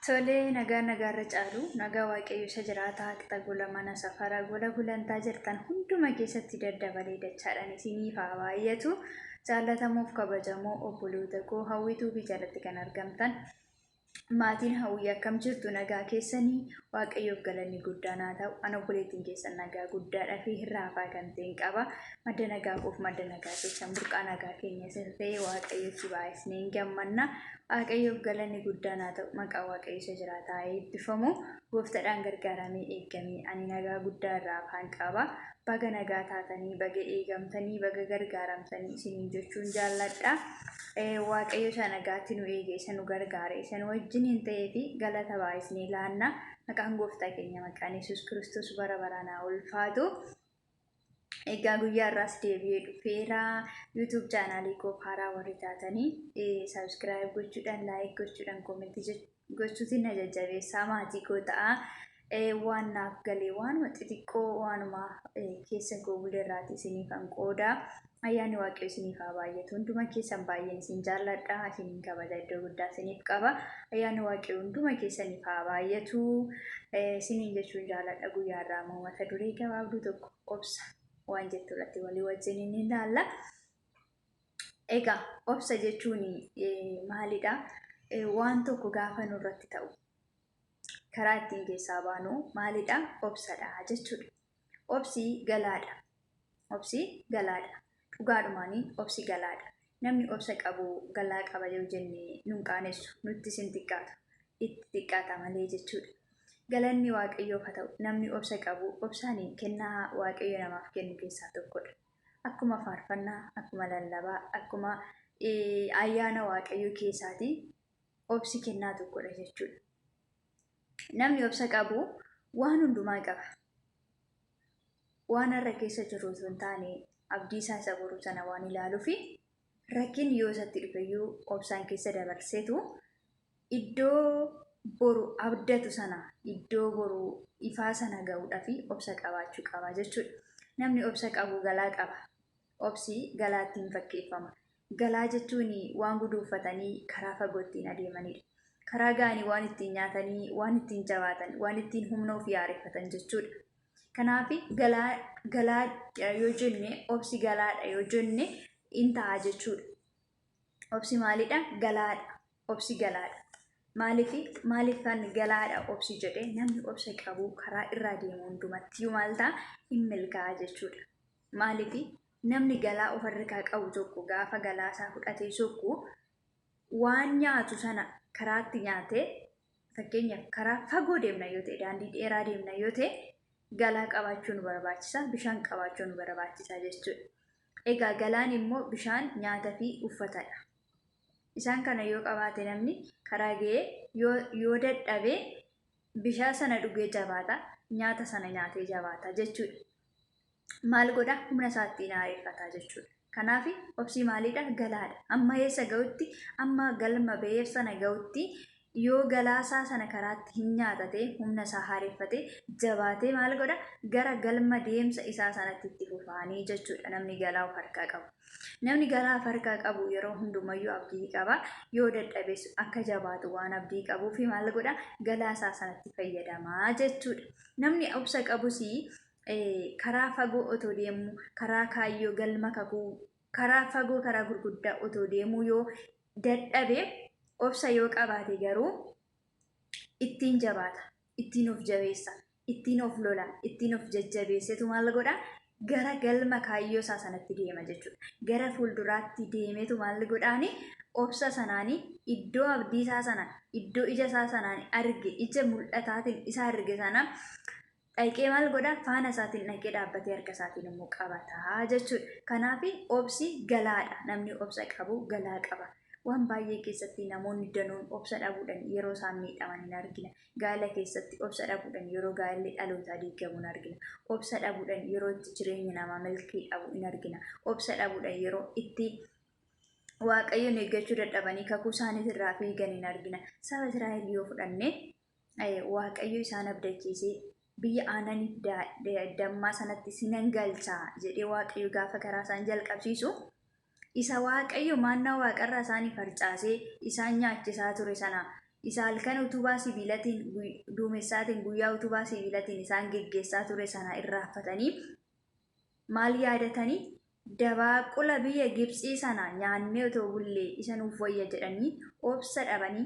Tolee nagaa nagaarra caalu nagaa waaqayyo isa jiraataa qixa gola mana safara gola gulantaa jirtan hunduma keessatti daddabalee dachaadhaan isiniif haa baay'atu jaallatamuuf kabajamoo obboloota koo hawwituu fi jalatti kan argamtan maatiin hawwii akkam jirtu nagaa keessanii waaqayyoof galanni guddaan haa ta'u an obboleettiin keessan nagaa guddaadhaa fi hirraafaa kan ta'een qaba madda nagaa koof madda nagaa keessan burqaa nagaa keenya isa ta'e waaqayyotti baay'isneen gammanna Waaqayyoof galanni guddaan haa ta'u maqaa waaqayyo isa jiraataa eebbifamu gooftadhaan gargaaramee eeggamee ani nagaa guddaa irraa afaan qaaba baga nagaa taatanii baga eegamtanii baga gargaaramtanii isiniin jechuun jaalladha waaqayyo isa nagaatti nu eege isa nu gargaare isa nu wajjin hin ta'ee fi galata baay'isnee laanna maqaan gooftaa keenya maqaan yesus kiristoos bara baraan haa ulfaatu. Egaa guyyaa irraas deebi'ee dhufeera. YouTube chaanaalii koo haaraa warri taatanii subscribe gochuudhaan like gochuudhaan comment gochuutiin na jajjabeessaa maatii koo ta'a. Waan naaf galee waanuma xixiqqoo waanuma keessa koo bulee irraati isiniifan qooda. Ayyaanni Waaqayyo isiniif haa baay'atu. Hunduma keessan baay'een isin jaalladha. Isiniin kabaja iddoo guddaa isiniif qaba. Ayyaanni Waaqayyo hunduma keessaniif haa baay'atu. Eh, Isiniin jechuun jaalladha guyyaa irraa immoo mata duree gabaabduu tokko obsa waan jettu irratti walii wajjin inni ilaalla. Egaa obsa jechuun eh, maalidha? Eh, Waan tokko gaafa nurratti ta'u karaa ittiin keessaa baanu maalidha? Obsadha jechuudha. Obsi galaadha. Obsi galaadha. Dhugaadhumaanii obsi galaadha. Namni obsa qabu galaa qaba yoo jenne nun qaanessu, nuttis hin xiqqaatu. Itti xiqqaata malee jechuudha. Galanni Waaqayyoof haa ta'u, namni obsa qabu obsaan kennaa Waaqayyo namaaf kennu keessaa tokkodha. Akkuma faarfannaa, akkuma lallabaa, akkuma ayyaana Waaqayyoo keessaati obsi kennaa tokkodha jechuudha. Namni obsa qabu waan hundumaa qaba. Waan har'a keessa jiru osoo hin taane abdii isaa isa boruu sana waan ilaaluufi rakkinni yoo isatti dhufeyyuu obsaan keessa dabarseetu iddoo boru abdatu sana iddoo boru ifaa sana ga'uudhaaf obsa qabaachuu qaba jechuudha. Namni obsa qabu galaa qaba. Obsi galaattiin fakkeeffama. Galaa jechuun waan guduunfatanii karaa fagoo ittiin adeemanidha. Karaa ga'anii waan ittiin nyaatanii, waan ittiin jabaatan, waan ittiin humna ofii haareffatan jechuudha. Kanaaf galaa galaadha yoo jenne, obsi galaadha yoo jenne in ta'a jechuudha. Obsi maalidha? Galaadha. Obsi galaadha. Maaliif maaliif kan galaadha obsi jedhe namni obsa qabu karaa irraa deemu hundumatti maal ta'a? In milkaa'a jechuudha. Maaliif namni galaa of harkaa qabu tokko gaafa galaa isaa fudhatee sokku waan nyaatu sana karaatti nyaatee fakkeenyaaf karaa fagoo deemna yoo ta'e daandii dheeraa deemna yoo ta'e galaa qabaachuu nu barbaachisa bishaan qabaachuu nu barbaachisa jechuudha. Egaa galaan immoo bishaan nyaata fi uffatadha. Isaan kana yoo qabaate namni karaa ga'ee yoo, yoo dadhabe bishaan sana dhugee jabaata nyaata sana nyaatee jabaata jechuudha. maal godha humna isaatti hin aareffata jechuudha. Kanaaf obsii maaliidha galaadha. Amma eessa ga'utti amma galma ba'eef sana ga'utti yoo galaasaa sana karaatti hin nyaatate humna isaa haareffate jabaatee maal godha gara galma deemsa isaa sanatti itti fufaanii jechuudha namni galaa of harkaa qabu. Namni galaa of harkaa qabu yeroo hundumayyuu abdii qaba yoo dadhabes akka jabaatu waan abdii qabuuf maal godha galaasaa sanatti fayyadamaa jechuudha. Namni obsa qabus karaa fagoo otoo deemuu, karaa kaayyoo galma kakuu, karaa fagoo karaa gurguddaa otoo deemuu yoo dadhabe, obsa yoo qabaate garuu ittiin jabaata, ittiin of jabeessa, ittiin of lola, ittiin of jajjabeessetu maal godha? Gara galma kaayyoo isaa sanatti deema jechuudha. Gara fuulduraatti deemetu maal godhaani? Obsa sanaani iddoo abdii isaa sana, iddoo ija isaa sanaan arge, ija mul'ataatiin isa arge sana dhaqee maal godha faana isaatiin dhaqee dhaabbatee harka isaatiin immoo qabata jechuudha. Kanaaf obsi galaadha. Namni obsa qabu galaa qaba. Waan baay'ee keessatti namoonni danuun obsa dhabuudhaan yeroo isaan miidhaman hin argina. Gaala keessatti obsa dhabuudhaan yeroo gaalli dhalootaa diigamu hin argina. Obsa dhabuudhaan yeroo itti jireenyi namaa milkii dhabu hin argina. Obsa dhabuudhaan yeroo itti waaqayyoon eeggachuu dadhabanii kakuu isaaniis irraa fiigan hin argina. Saba Israa'el yoo fudhanne Waaqayyo isaan abdachiisee biyya aananiif dammaa sanatti sinan galchaa jedhee Waaqayyo gaafa karaa isaan jalqabsiisu isa Waaqayyo maannaa waaqarraa isaanii farcaasee isaan nyaachisaa ture sana isa halkan utubaa sibiilatiin duumessaatiin guyyaa utubaa sibiilatiin isaan geggeessaa ture sana irraaffatanii maal yaadatanii dabaaqula biyya Gibxii sana nyaannee otoo bullee isa nuuf wayya jedhanii obsa dhabanii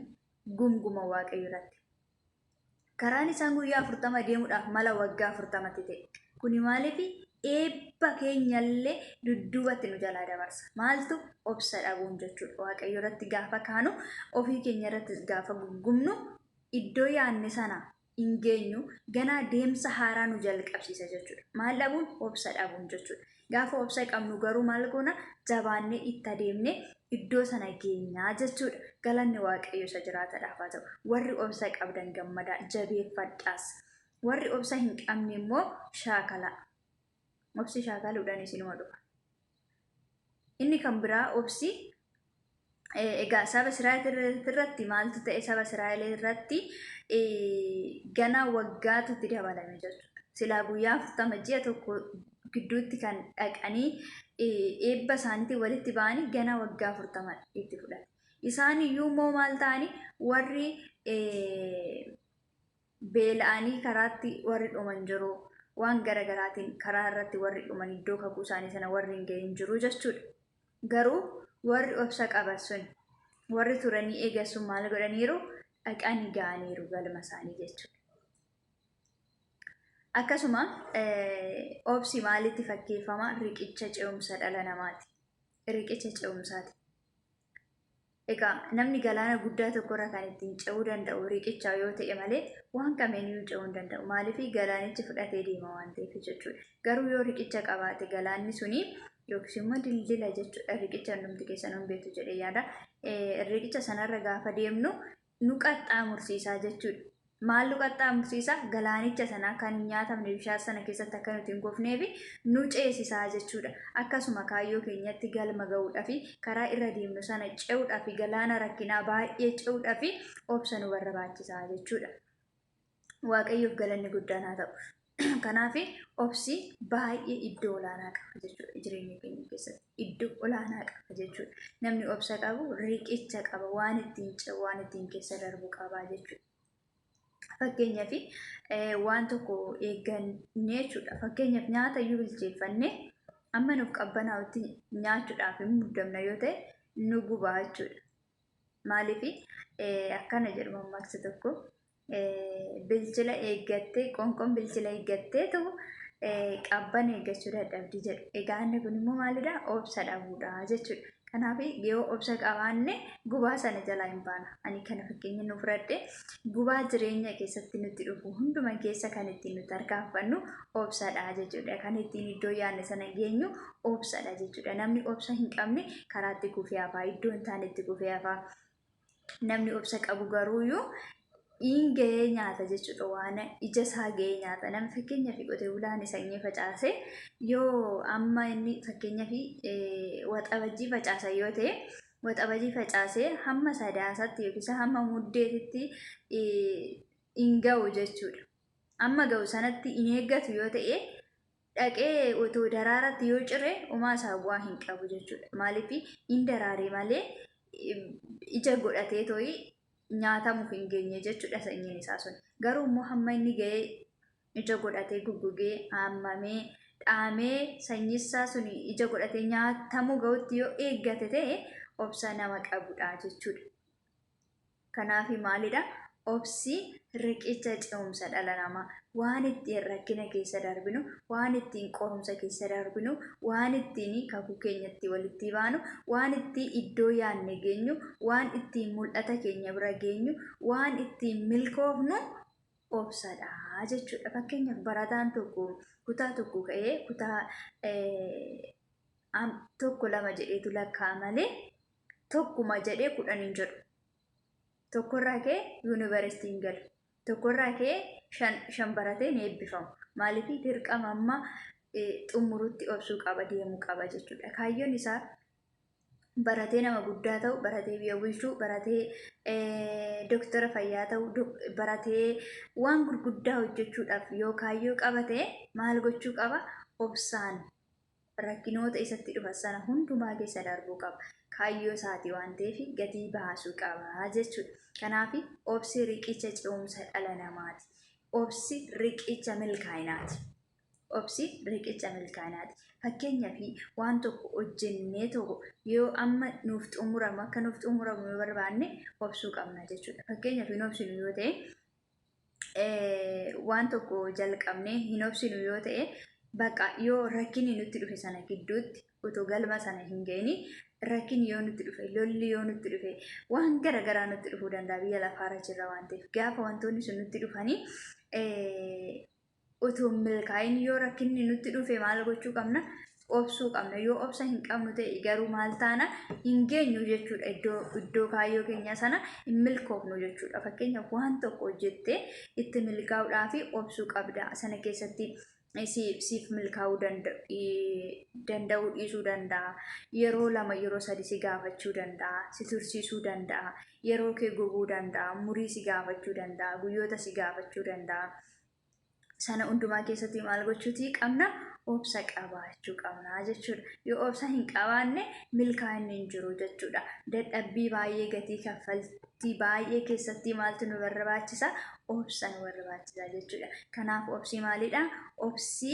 gunguma Waaqayyo irratti. Karaan isaan guyyaa afurtama deemuudhaaf mala waggaa afurtamatti ta'e. Kuni maaliif eebba keenyallee dudduubatti nu jalaa dabarsa. Maaltu obsa dhabuun jechuudha. Waaqayyo irratti gaafa kaanu ofii keenya irrattis gaafa gungumnu iddoo yaanne sana hin geenyu ganaa deemsa haaraa nu jalqabsiisa jechuudha. Maal dhabuun? Obsa dhabuun jechuudha. Gaafa obsa qabnu garuu maal goona? Jabaannee itti adeemne iddoo sana geenyaa jechuudha. Galanni Waaqayyo isa jiraatadhaaf haa ta'u. Warri obsa qabdan gammadaa jabeeffadhaas. Warri obsa hin qabne immoo shaakalaa. obsi shaakaluudhaan isinuma dhufa. Inni kan biraa obsi egaa saba Israa'el irratti maaltu ta'e saba Israa'el irratti gana waggaatu itti dabalame jechuudha. Silaa guyyaa afurtama ji'a tokko gidduutti kan dhaqanii eebba isaaniitiin walitti ba'anii gana waggaa afurtama itti fudhate. Isaan iyyuu immoo maal ta'anii warri Beela'anii karaatti warri dhuman jiru, waan gara garaatiin karaa irratti warri dhuman iddoo kakuu isaanii sana warri hin ga'in jiru jechuudha. Garuu warri obsa qaban sun, warri turanii eegan sun maal godhaniiru? Dhaqanii ga'aniiru galma isaanii jechuudha. Akkasuma obsi maalitti fakkeeffama? Riqicha ce'umsa dhala namaati. Riqicha ce'umsaati. Egaa namni galaana guddaa tokkorra kan ittiin ce'uu danda'u riiqicha yoo ta'e malee waan kamiiniyyuu ce'uu hin danda'u. Maaliif galaanichi fudhatee deema waan ta'eef jechuudha. Garuu yoo riiqicha qabaate galaanni suni yookiis immoo dildila jechuudha riiqicha hundumti keessanuu hin beektu jedhee yaada. Riiqicha sanarra gaafa deemnu nu qaxxaamursiisa jechuu dha. Maal nu qaxxaamursiisa? Galaanicha sana kan hin nyaatamne bishaan sana keessatti akka nuti hin kufneef nu ceesisa jechuu dha. Akkasuma kaayyoo keenyatti galma ga'uudhaaf karaa irra deemnu sana ce'uudhaaf galaana rakkinaa baay'ee ce'uudhaaf obsa nu barbaachisa jechuu dha. waaqayyoof galanni guddaan haa ta'u. Kanaaf obsi baay'ee iddoo olaanaa qaba jechuudha jireenya keenya keessatti. Iddoo olaanaa qaba jechuudha. Namni obsa qabu riqicha qaba waan ittiin ce'u waan ittiin keessa darbu qaba jechuudha. Fakkeenyaaf eh, waan tokko eeggannee jechuudha. Fakkeenyaaf nyaata iyyuu bilcheeffannee amma nuuf qabbanaa'utti nyaachuudhaaf hin muddamna yoo ta'e nu gubaa jechuudha. Maaliif akkana jedhu mammaaksa tokko bilchina eeggattee qoonqoon bilchina eeggatteetu qabban eeggachuu dadhabdi jedhu. Egaa inni kun immoo maalidha? Obsa dhabuudha jechuudha. Kanaaf yoo obsa qabaanne gubaa sana jalaa hin baana. Ani kana fakkeenya nu fudhadhe gubaa jireenya keessatti nutti dhufu hunduma keessa kan ittiin nuti tarkaanfannu obsadha jechuudha. Kan ittiin iddoo yaadne sana geenyu obsadha jechuudha. Namni obsa hin qabne karaatti kufee hafaa iddoo hin taanetti kufee hafaa. namni obsa qabu garuu yoo in ga'ee nyaata jechuudha waan ija isaa ga'ee nyaata nama fakkeenyaaf qotee bulaan sanyii facaase yoo amma inni fakkeenyaaf waxabajjii facaasa yoo ta'e waxabajii facaase hamma sadaasaatti yookiis hamma muddeetitti in ga'u jechuudha. Amma ga'u sanatti in eeggatu yoo ta'e dhaqee otoo daraaratti yoo cire umaa isaa bu'aa hin qabu jechuudha. Maaliif hin daraare malee ija godhatee tooyi nyaatamuuf hin geenye jechuudha sanyiin isaa sun. Garuu immoo hamma inni ga'ee ija godhatee guggugee haamamee dhaamee sanyii isaa sun ija godhatee nyaatamuu ga'utti yoo eeggate ta'e obsa nama qabudha jechuudha. Kanaafi maalidha? Obsi riqicha ce'umsa dhala namaa. Waan ittiin rakkina keessa darbinu, waan ittiin qorumsa keessa darbinu, waan ittiin kakuu keenya itti walittii baanu, waan ittiin iddoo yaadne geenyu, waan ittiin mul'ata keenya bira geenyu, waan ittiin milkoofnu obsadha jechuudha. Fakkeenyaaf barataan tokko kutaa tokko ka'ee kutaa tokko lama jedheetu lakka'a malee tokkuma jedhee kudhan hin jedhu. Tokkorraa kee yuunivarsiitii hin galu. Tokkorraa kee shan, shan baratee hin eebbifamu. Maaliif dirqama amma xumurutti obsuu qaba deemuu qaba jechuudha. Kaayyoon isaa baratee nama guddaa ta'u, baratee biyya bulchuu, baratee doktara fayyaa ta'u, baratee waan gurguddaa hojjechuudhaaf yoo kaayyoo qabate maal gochuu qaba? Obsaan rakkinoota isatti dhufan sana hundumaa keessa darbuu qaba. Kaayyoo isaati waan ta'eef gatii baasuu qaba jechuudha. Kanaaf obsi riqicha ce'umsa dhala namaati. Obsi riqicha milkaa'inaati. Obsi riqicha milkaa'inaati. Fakkeenyaaf waan tokko hojjennee tokko yoo amma nuuf xumuramu akka nuuf xumuramu yoo barbaanne obsuu qabna jechuudha. Fakkeenyaaf hin obsinu yoo ta'e waan tokko jalqabnee hin obsinu yoo ta'e bakka yoo rakkinni nutti dhufe sana gidduutti otoo galma sana hin ga'ini rakkinni yoo nutti dhufe lolli yoo nutti dhufe waan gara garaa nutti dhufuu danda'a biyya lafaarra jirra waan ta'eef gaafa wantoonni sun nutti dhufanii utuu hin milkaa'in yoo rakkinni nutti dhufe maal gochuu qabna? Obsuu qabna. Yoo obsa hin qabnu ta'e garuu maal taana? Hin geenyu jechuudha iddoo iddoo kaayyoo keenyaa sana hin milkoofnu jechuudha. Fakkeenyaaf waan tokko hojjettee itti milkaa'uudhaaf obsuu qabda. Sana keessatti siif milkaa'uu danda'uu dhiisuu danda'a. Yeroo lama yeroo sadi si gaafachuu danda'a. Si tursiisuu danda'a. Yeroo kee gubuu danda'a. Murii si gaafachuu danda'a. Guyyoota si gaafachuu danda'a. sana hundumaa keessatti maal gochuutii qabna obsa qabaachuu qabna jechuudha. Yoo obsa hin qabaanne milkaa'inni hin jiru jechuudha. Dadhabbii baay'ee gatii kaffaltii baay'ee keessatti maaltu nu barbaachisa? Obsa nu barbaachisa jechuudha. Kanaaf obsi maalidha? Obsi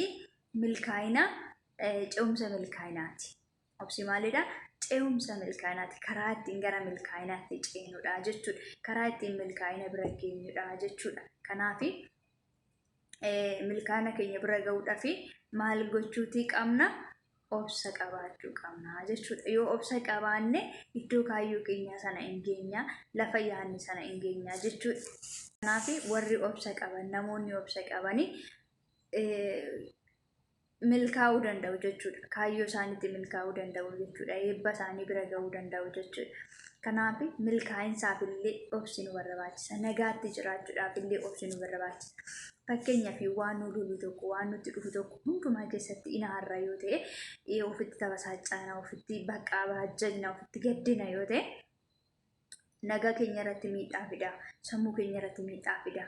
milkaa'ina ce'umsa milkaa'inaati. Obsi maalidha? Ce'umsa milkaa'inaati. Karaa ittiin gara milkaa'inaatti ceenudha jechuudha. Karaa ittiin milkaa'ina bira geenyudha jechuudha. Kanaaf milkaa'ina keenya bira gahuudhaaf maal gochuutii qabna? Obsa qabaachuu qabna jechuudha. Yoo obsa qabaanne iddoo kaayyoo keenyaa sana hin geenya, lafa yaadne sana hin geenya jechuudha. Kanaaf warri obsa qaban, namoonni obsa qabanii milkaa'uu danda'u jechuudha. Kaayyoo isaaniitti milkaa'uu danda'u jechuudha. Eebba isaanii bira ga'uu danda'u jechuudha. Kanaaf milkaa'insaaf illee obsi nu barbaachisa. Nagaatti jiraachuudhaaf illee obsi nu barbaachisa. Fakkeenyaaf waan nu lolu tokko, waan nutti dhufu tokko hundumaa keessatti inaarra yoo ta'e, eh, ofitti tabasaacana, ofitti baqaa baajjagna, ofitti gaddina yoo ta'e, nagaa keenya irratti miidhaa fida, sammuu keenya irratti miidhaa fida,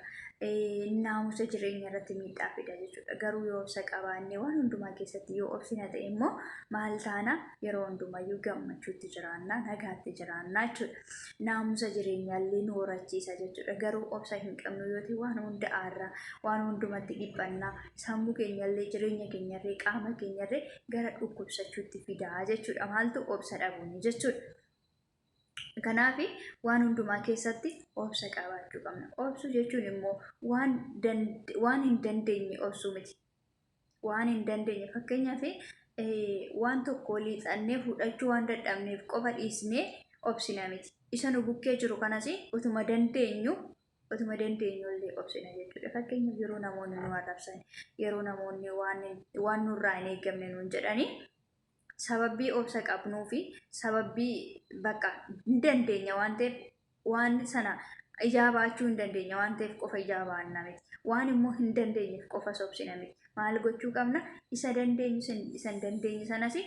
naamusa jireenya irratti miidhaa fida jechuudha. Garuu yoo obsa qabaanne waan hundumaa keessatti yoo obsina ta'e immoo maal taana yeroo hundumayyuu gammachuutti jiraanna, nagaatti jiraanna jechuudha. Naamusa jireenyaa illee nu horachiisa jechuudha. Garuu obsa hin qabnu yoo ta'e waan hunda aarra, waan hundumatti dhiphanna, sammuu keenya illee jireenya keenya irree qaama keenya irree gara dhukkubsachuutti fidaa jechuudha. Maaltu obsa dhabuuni jechuudha. Kanaaf waan hundumaa keessatti obsa qabaachuu qabna. Obsuu jechuun immoo waan, dand- waan hin dandeenye obsuu miti. Waan hin dandeenye fakkeenyaaf eh, waan tokko liixannee fudhachuu waan dadhabneef qofa dhiisnee obsina miti. Isa nu bukkee jiru kanas utuma dandeenyu utuma dandeenyu illee obsina jechuudha. Fakkeenyaaf yeroo namoonni nu arrabsan, yeroo namoonni waan, waan nurraa hin eegamne nuun jedhanii sababbii obsa qabnuu fi sababbii bakka hin dandeenya waan ta'eef waan sana ijaa baachuu hin dandeenya waan ta'eef qofa ijaa baanna miti. Waan immoo hin dandeenyeef qofa sobsina miti. Maal gochuu qabna? Isa dandeenyu isa hin dandeenye sanas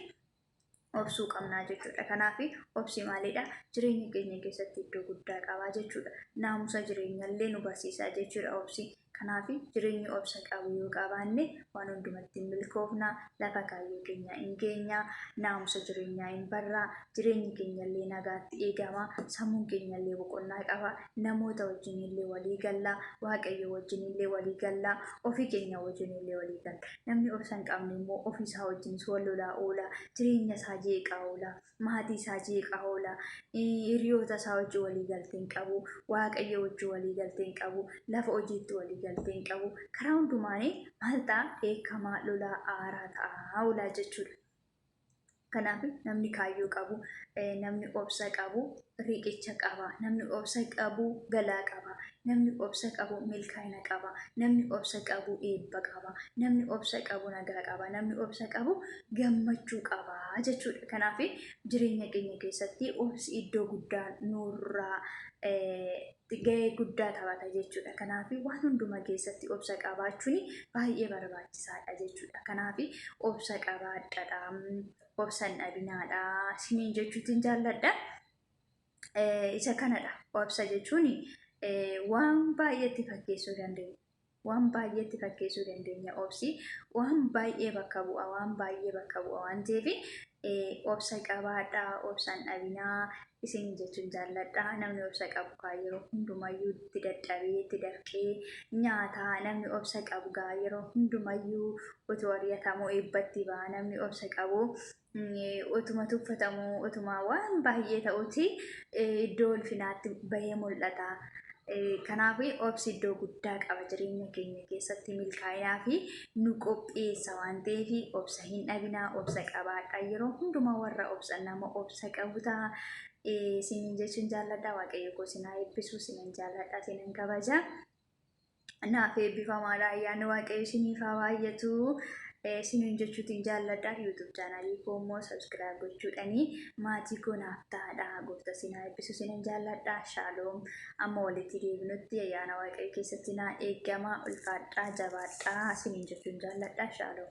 obsuu qabnaa jechuudha. Kanaaf obsi maalidha? Jireenya keenya keessatti iddoo guddaa qabaa jechuudha. Naamusa jireenyallee nu barsiisaa jechuudha obsi. Kanaaf jireenya obsa qabu yoo qabaanne waan hundumatti in milkoofna, lafa kaayyoo keenyaa in geenya, naamusa jireenyaa in barra, jireenyi keenya illee nagaatti eegama, sammuun keenya illee boqonnaa qaba, namoota wajjin illee walii galla, Waaqayyoo wajjin illee walii galla, ofii keenya wajjin illee walii galla. Namni obsa hin qabne immoo ofii isaa wajjinis wal lolaa oola, jireenya isaa jeeqaa oola. maatii isaa jeeqaa oola, hiriyoota isaa wajjin walii galtee hin qabu, waaqayyo wajjin walii galtee hin qabu, lafa hojiitti walii galtee hin qabu. Karaa hundumaan maal ta'a? Dheekkamaa, lolaa, aaraa ta'a oolaa jechuudha. Kanaaf namni kaayyoo qabu, namni obsa qabu riqicha qaba. Namni obsa qabu galaa qaba. Namni obsa qabu milkaa'ina qaba. Namni obsa qabu eebba qaba. Namni obsa qabu nagaa qaba. Namni obsa qabu gammachuu qaba jechuudha. Kanaaf jireenya keenya keessatti obsi iddoo guddaa nurraa eh, gahee guddaa taphata jechuudha. Kanaaf waan hundumaa keessatti obsa qabaachuun baay'ee barbaachisaadha jechuudha. Kanaaf obsa qabaadhaa. obsan dhabinaadha isiniin jechuutiin jaalladha. Isa kanadha obsa jechuun waan baay'eetti fakkeessuu dandeenya. Waan baay'eetti fakkeessuu dandeenya obsi waan baay'ee bakka bu'a waan baay'ee bakka bu'a waan ta'eef obsa qabaadha obsan dhabinaa Isin jechuun jaalladha. Namni obsa qabu kaa yeroo hundumayyuu itti dadhabee itti dafqee nyaata. Namni obsa qabu gaa yeroo hundumayyuu otoo ari'atamuu eebbatti ba'a. Namni obsa qabu otuma tuffatamuu otuma waan baay'ee ta'uti iddoo ulfinaatti bahee mul'ata. Kanaaf obsi iddoo guddaa qaba jireenya keenya keessatti milkaa'inaa fi nu qopheessa waan ta'eef obsa hin dhabinaa obsa qabaadha. Yeroo hundumaa warra obsan nama obsa isa qabu ta'a. Isiniin jechuun jaalladha waaqayyo koo isin haa eebbisu isinin jaalladha isinin kabaja. Naaf eebbifamaadha ayyaanni waaqayyo isiniif haa baay'atu. Isinin jechuutiin jaalladha YouTube chaanalii koo immoo subscribe gochuudhani maatii koo naaf ta'aadha goofta isin haa eebbisu isinin jaalladha shaaloom amma walitti deebinutti ayyaana waaqayyo keessatti naa eegama ulfaadhaa jabaadhaa isinin jechuun jaalladha shaaloom.